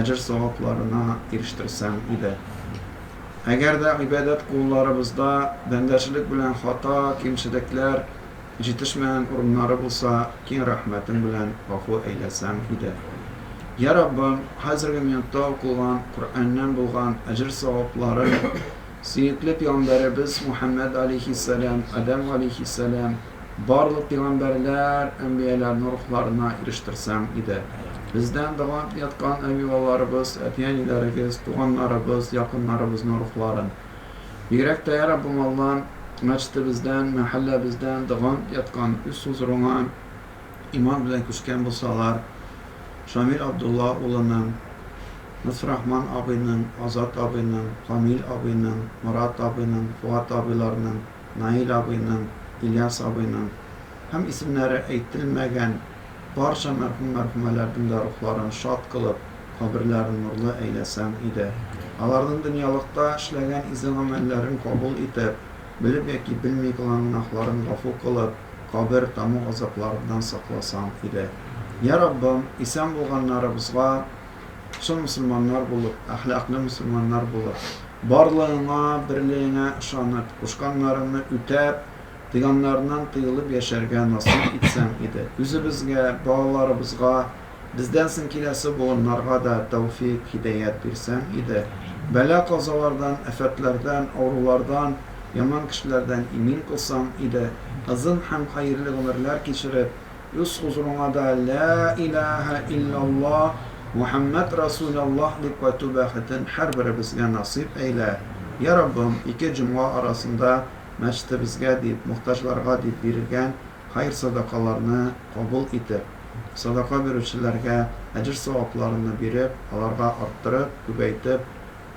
әҗер савапларына ирештерсәң иде. Әгәр дә гыйбадәт кулларыбызда бәндәчелек белән хата, кимчелекләр, җитешмәгән урыннары булса, киң рәхмәтең белән гафу әйләсәң иде. Йә Раббым, хәзерге минутта укылган Коръәннән булган әҗер савапларын сөекле пигамбәребез Мухәммәд галәйһиссәлам, Адәм галәйһиссәлам, Барлык пигамбәрләр, әнбияләрнең рухларына ирештерсәң иде. Бездән дога итеп яткан әби-бабаларыбыз, әти-әниләрегез, туганнарыбыз, якыннарыбызның рухларын. Бигрәк тә, йә Раббым Алла, мәчетебездән, мәхәлләбездән дога итеп яткан, үз хозурыңа иман белән күчкән булсалар, Шамил Абдулла улының, Лотфрахман абыйның, Азат абыйның, Камил абыйның, Морат абыйның, Фоат абыйларның, Наил абыйның, Ильяс абыйның һәм исемнәре әйтелмәгән барча мәрхүм-мәрхүмәләрнең дә рухларын шат кылып, каберләрен нурлы әйләсәң иде. Аларның дөньялыкта эшләгән изге-гамәлләрен кабул итеп, белеп яки белми кылган гөнаһларын гафу кылып, кабер таму газапларыннан сакласаң иде. Йә, Раббым, исән булганнарыбызга чын мөселманнар булып, әхлаклы мөселманнар булып, барлыгыңа, берлегеңә ышанып, кушканнарыңны үтәп, тыйганнарыңнан тыелып яшәргә насыйп итсәң иде. Үзебезгә, балаларыбызга, бездән соң киләсе буыннарга да тәүфыйк, һидәят бирсәң иде. Бәла-казалардан, афәтләрдән, авырулардан, яман кешеләрдән имин кылсаң иде. Озын һәм хәерле гомерләр кичереп, Үз хозурыңа да Лә иләһә илляллаһ, Мөхәммәд рәсүләллаһ дип кайту бәхетен һәрберебезгә насыйп әйлә, йә Раббым, ике җомга арасында мәчетебезгә дип, мохтаҗларга дип бирелгән хәер-садакаларны кабул итеп, садака бирүчеләргә әҗер-савапларынны биреп, аларга арттырып, күбәйтеп,